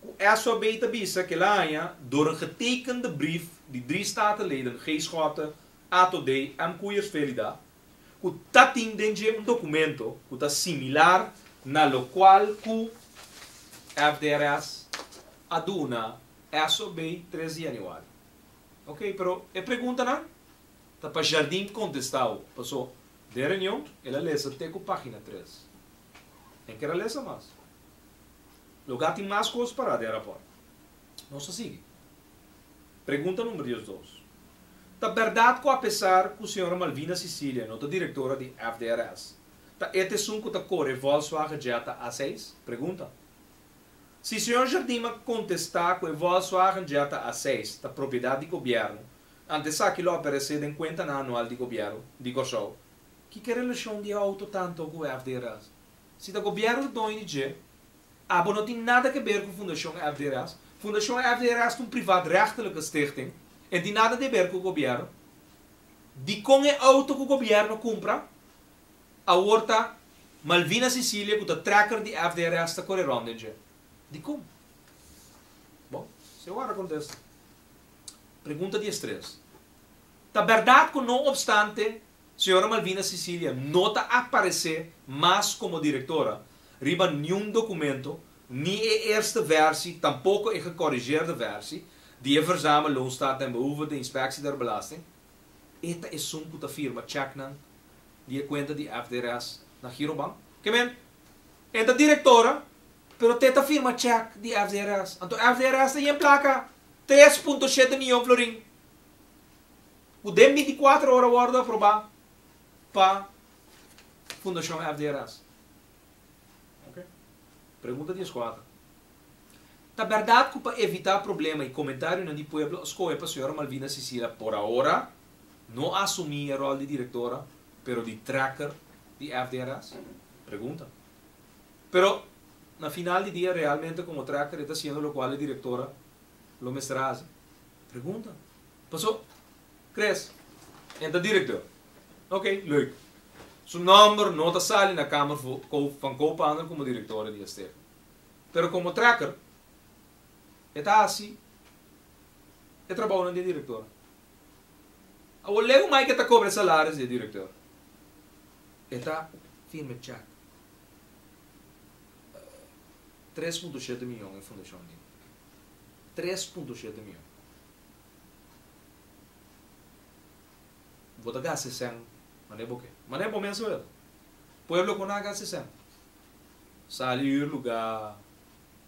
Ku SOB ta bisa kila aña dor e getekende brief di drie statenleden G. Schotte, Ato Dey èm Coeiers Velida, ku ta tin den dje un dokumento ku ta similar na lokual ku FDRS a duna SOB tres di yanüari. Ok, pero e preguntanan ta pa Jardin kontestá awo, pasó den reunion el a lesa te ku página tres. Enker a lesa mas. Lugá tin mas kos pa rata den rapòrt. Nos a sigui. Pregunta number diesdos. Ta bèrdat ku apesar ku señora Malvina Cecilia no ta direktora di FDRS, ta et esun ku ta kore Volkswagen Jetta A seis? Pregunta. Si señor Jardim a kontestá ku e Volkswagen Jetta A seis ta propiedat di gobièrnu, ante esaki lo aparesé den kuentanan anual di gobièru di Kòrsou, kiko e relashon di e outo tanto ku FDRS? Si ta gobièrnu dòño di dje, abo no tin nada ke ber ku Fundashon FDRS. Fundashon FDRS ta un privaat-rechtelike stichting, e no tin nada te ber ku gobièrnu. Dikon e outo ku gobièrnu kumpra awor ta Malvina Cecilia ku ta trekker di FDRS ta kore rònt den dje? Dikon? Bon, si awor a kontesta. Pregunta di e stres. Ta bèrdat ku no opstante Señora Malvina Cecilia no ta aparece mas como directora riba niun documento, ni e eerste versie, tampoco e gecorrigeerde versie, di e verzame Loonstaat den Behoeve den Inspectie der Belasting. E ta esun cu ta firma checknan di e cuenta di FDRS na Girobank. Ke men, e ta directora, pero te ta firma check di FDRS. Anto FDRS ta yen placa tres punto shete miyon florin. Ku den binticuatro ora wòrdu aprobá pa Fundashon FDRS. Pregunta dieskuater. Ta bèrdat ku pa evitá problema i komentarionan di pueblo a skohe pa señora Malvina Sisila por ahora no asumí e ròl di direktora pero di trekker di FDRS? Pregunta. Pero na final di dia realmente komo trekker e ta hasiendo lokual e direktora lo mester hasi? Pregunta. Paso, Chris, en ta director. Ok, leuk. Su nomber no ta sali na kamer fu kou van kou pander como directore di e stef. Pero como trekker, e ta haci e trabounan di e director. Awor leu mai ke ta cobre e salaris di e director. E ta firme check tres punto shete miyon e fundacion dje. tres punto shete mion. Bo ta gasta e sèn manera bo ke. Manera bo mes a wet. Pueblo ku na gasta e sèn. Sali hür lugá,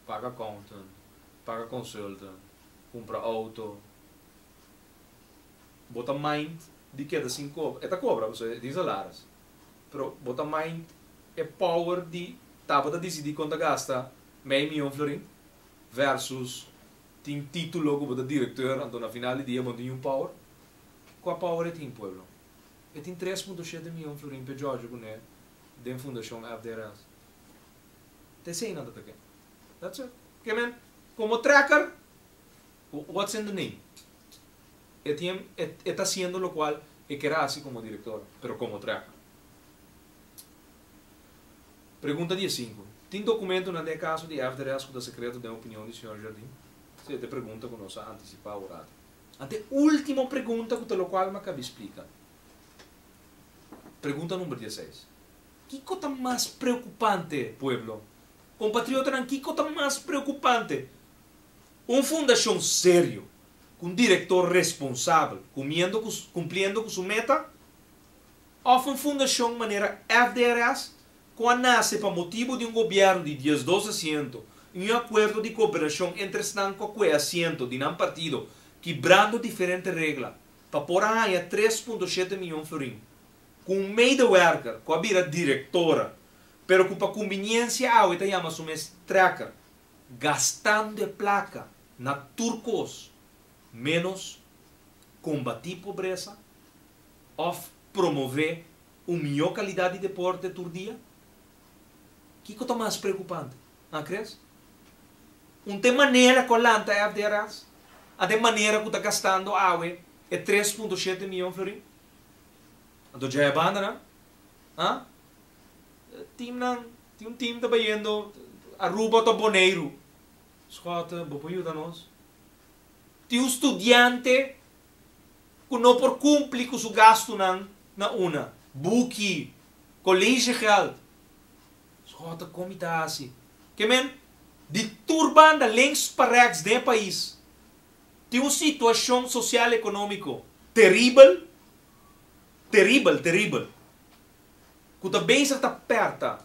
paga accountant, paga consultant, kumpra outo. Bo ta mind di keda sin kobra. E ta kobra pasobra e tin salaris. Pero bo ta mind e power di tabata disidí kon ta gasta Mei mion florin versus tin titulo ku bo ta direktor anto na final di dia bo no tin niun power. Kua power e tin pueblo? E tin tres punto shete mion florin p'e Giorgio kuné den fundashon FDRS. Ta esei nan ta ta ke. That's it. Ke men komo trekker what's in the name? E tin e ta hasiendo lo kual e ker a hasi komo direktor pero komo trekker. Pregunta di e sinku. Tin dokumentonan den e kaso di FDRS ku ta sekreto den opinion di señor Jardin? Si, esta e pregunta ku nos a antisipá ora. Ante e último pregunta ku ta lokual m'a kabi splika. Pregunta number dieseis. Kiko ta mas preokupante, pueblo? Kompatriotanan, kiko ta mas preokupante? Un fundashon serio, ku un direktor responsabel, kumiendo ku kumpliendo ku su meta? Òf un fundashon manera FDRS ku a nase pa motibu di un gobièrnu di diesdos asiento i un akuerdo di kooperashon entre esnan ku akue asiento di nan partido kibrando diferente regla pa por a haña tres punto shete mion florin ku un medewerker ku a bira direktora pero ku pa kumbiniensia awe ta yama su mes trekker gastando e plaka na tur kos menos kombatí pobresa Òf promové un mihó kalidat di deporte tur dia? Kiko ta mas preokupante? A kres? Un t'e manera ku a lanta e avderads? A den manera ku ta gastando awe e tres punto shete mion florin? Anto dja e bandanan? A? Timnan, tin un tim ta bayendo Aruba òto Boneiru. Skòt, bo por yuda nos? Tin un studiante ku no por kumpli ku su gastunan na una, buki, kolesjegèld. Sògò ta kon mi ta hasi. Ke men di tur banda links pa rèks den e pais tin un situashon sosial ekonómiko teribel, teribel, teribel, ku ta bezig ta pèrta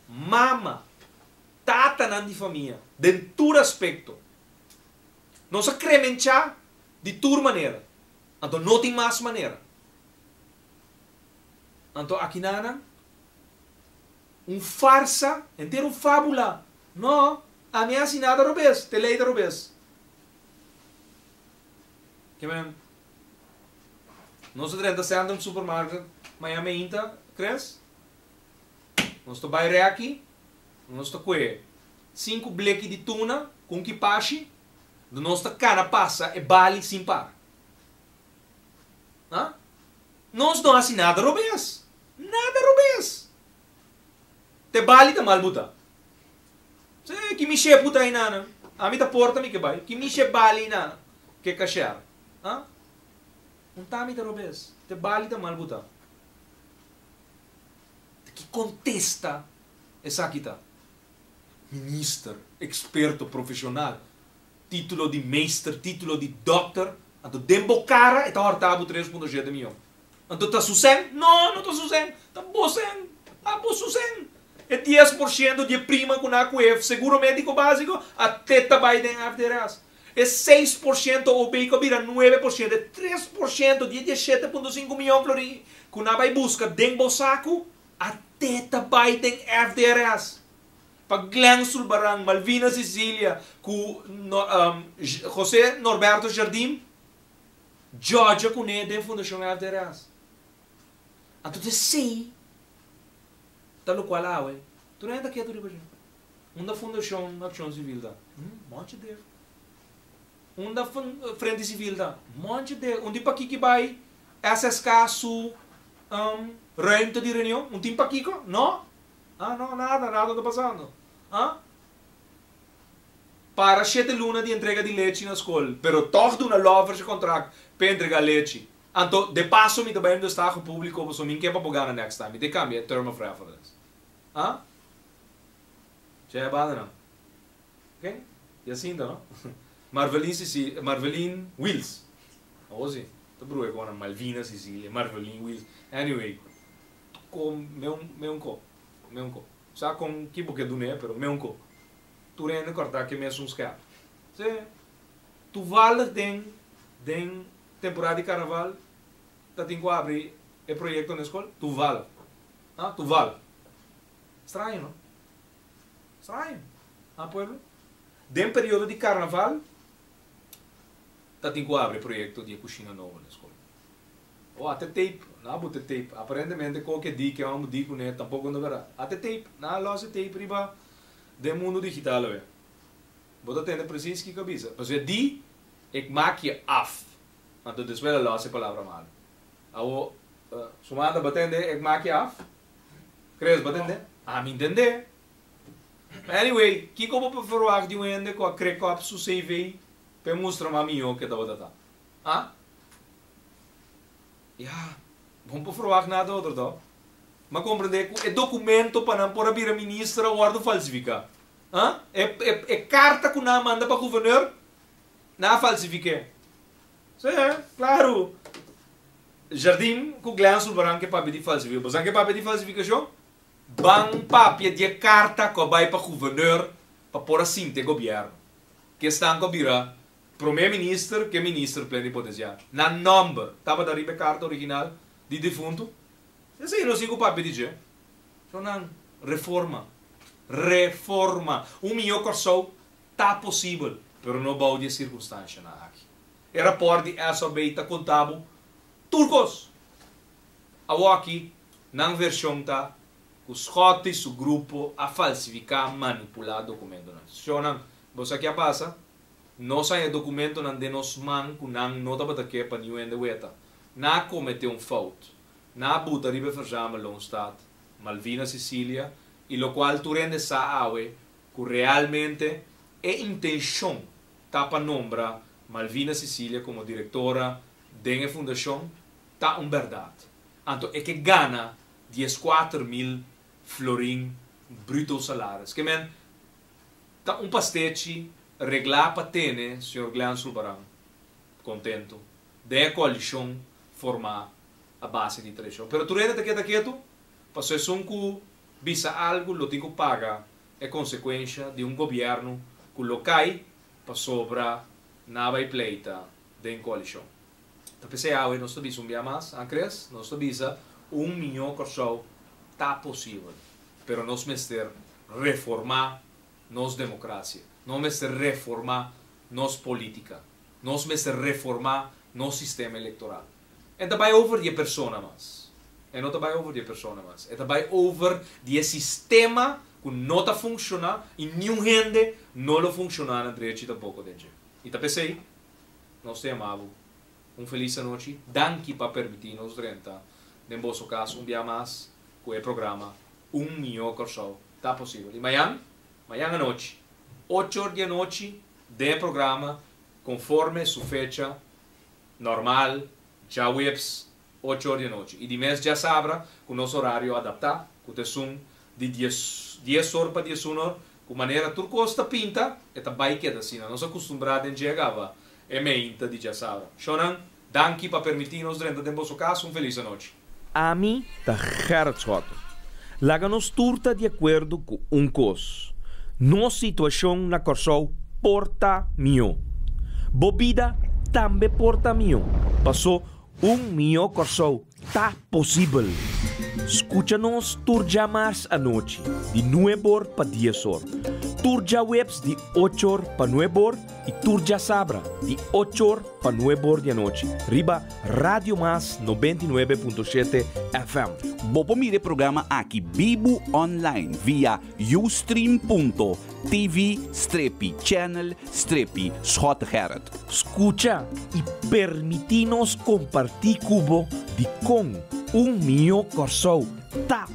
mama, tatanan di famia den tur aspekto. Nos a kremenchá Di tur manera, anto no tin mas manera. Anto akinanan un farsa, henter un fabula, no, ami a hasi nada robes, te lei ta robes. Ke men, nos a drenta Centrum Supermarket mañan meinta, tres, nos ta bai reki, nos ta kue sinku bleki di tuna, ku un kipashi, Nos ta kana pasa e bali sin para. Ha? Nos no hasi nada robes. Nada robes! Ta e bali ta mal bu ta. P'esei ei, ki mishep bu ta ei nanan? Ami ta porta mi ke bai. Ki mishep bali ei nanan? Ke kasher. Ha? Un tami ta robes. Ta e bali ta mal bu ta. Ta ki kontesta esaki ta? Minister, experto, profesional, titulo di meester, titulo di dokter, anto den bo cara e ta horta bo tres punto shete miyon. Anto ta su shen? No, no ta su shen, ta bo shen, a bo su shen. E dies por shento di e prima cu nan a cu e seguro medico basico a te ta bay den FDRS. E seis por shento OB cu a bira nuebe por shento, e tres por shento di e dieshete punto sinku miyon florin cu nan a bay busca den bo sacu, A te ta bai den FDRS, pa Glen Zulbarán, Malvina Cecilia cu José Norberto Jardim, djodja cune den Fundacion FDRS. Anto esey ta locual awe. Tur hende ta ketu riba dje. Unda Fundacion Accion Civil ta? Hm, monchi dje. Unda Frente Civil ta? Monchi dje. Unda e Paquiqui bai? SSK, su. Um ruimte di reunion, un tin pa kiko? No! Ah, no, nada, nada ta pasando. Ah? Para shete luna di entrega di lechi na skol, pero tog duna Lovers e kontrakt pa e entrega lechi. Anto, de paso mi ta bai un destaho publiko paso mi n'ke pa bo gana next time. Mi te kambia e term of reference. Ah? Tjee, banda nan. Oké, y asinta no. Marvelin Sicilia, eh, Marvelin Wils, awo si, ta bruha e kòp nan, Malvina Sicilia, Marvelin Wils, anyway, ko me un, me un kòp, me un kòp, sa kon ki bo ke dun'é, pero me un kòp, tur hende kòrtá ke mes un skèp. P'esei, tuvallig den, den temporada di karnaval ta tin ku abri e proyekto n'e skol, tuvallig, ha, tuvallig, straño no, Ha pueblo. Den periodo di carnaval ta tin cu abri proyecto di e cushina nobo na escola. O a te tape, no a bote tape. Aparentemente cualkier di ke amo di cune tampoco no verdad. A te tape, no a los e tape riba den mundo digital awe. Bo ta tende precies kico a bisa. Pasobra di e kmakia af. Anto despues a los e palabra malo. Awo, Sumanda, bo a tende e kmakia af? Chris, bo tende? Ami tende. Anyway, kiko bo por ferwagt di un hende ku a kre kòp su CV pa e mustra mas mihó ke tabata ta? Ya, bo no por ferwagt nada otro tò. M'a komprendé ku e dokumento pa nan por a bira minister a wòrdu falsifiká. E karta ku nan a manda pa guvernor, nan a falsifik'é. Sí, klaru. Jardín ku Glen Zulbarán ke papia di falsifiká. Bo sa ke papia di falsifikashon? Ban papia di e karta ku a bai pa guvernor pa por a sinta e gobièrnu. Ke esnan ku a bira promé minister ke minister plenipotenciario. Nan nòmber tabata riba e karta original di difuntu. Esei asina no siña ku papia di dje. Shon nan, reforma. Reforma. Un mihó Kòrsou Ta posibel, pero no bou di e sirkunstanshanan aki. E rapòrt di SRB ta konta bo tur kos. Awor aki, nan vershon ta ku Schott i su grupo a falsifiká, manipulá dokumentonan. Shonnan, bo sa ke a pasa? Nos a haña dokumentonan den nos man ku nan no tabata ke pa niun hende weta. Nan a kometé un fout. Nan a buta riba e verzame Loonstadt, Malvinas, Sicilia, i lokual tur hende sa awe Cu realmente e intencion ta pa nombra Malvina Cecilia como directora den e fundacion ta un berdad, anto e ke gana diescuater mil florin bruto salaris. Ke men ta un pastechi regla pa tene señor Glean Zulbarán contento den e coalicion forma a base di traicion. Pero Turene ta keda ketu, pasobra esun cu Bisa algu lo tin ku paga e konsekuensha di un gobièrnu ku lo kai pasobra nan a bai pleita den koalishon. Ta p'esei awe nos ta bisa un bia mas, a Chris? Nos ta bisa un mihó Kòrsou ta posibel, pero nos mester reformá nos demokrasia, nos mester reformá nos polítika, nos mester reformá nos sistema elektoral. E ta bai over di e persona mas. E no ta bai over di e persona mas. E ta bai over di e sistema ku no ta funshoná i niun hende no lo funshoná na drechi tampoko den dje. I ta p'esei nos ta yamá bo un felis anochi. Danki pa permití nos drenta den boso kas un biaha mas ku e programa Un Mihó Kòrsou ta posibel. I mañan, mañan anochi, ocho or di anochi den e programa konforme su fecha Normal, djaweps ocho or di e nochi. I di mes djasabra ku nos orario adaptá, ku ta esun di dies dies or pa dies un or, ku manera tur kos ta pinta, e ta bai keda asina. Nos a kustumbrá den djega ava e meinta di djasabra. Shonnan, danki pa permití nos drenta den boso kas. Un felis anochi. Ami ta Gerrit Schotten. Laga nos tur ta di akuerdo ku un kos, nos situashon na Kòrsou por ta mihó. Bo bida tambe por ta mihó, pasó un mihó Kòrsou ta posibel! Skucha nos tur dja mars anochi di nueb or pa dies or, tur djaweps di och or pa nueb or, Y tur djasabra di ocho or pa nuebe or di anochi riba Radio Mas noventa y nuebe punto shete FM. Bo por mira e programa aki bibu online via ustream.tv strepi channel strepi Schotegerrit. Scucha y permiti nos comparti cu bo di con un mihó Corsou ta.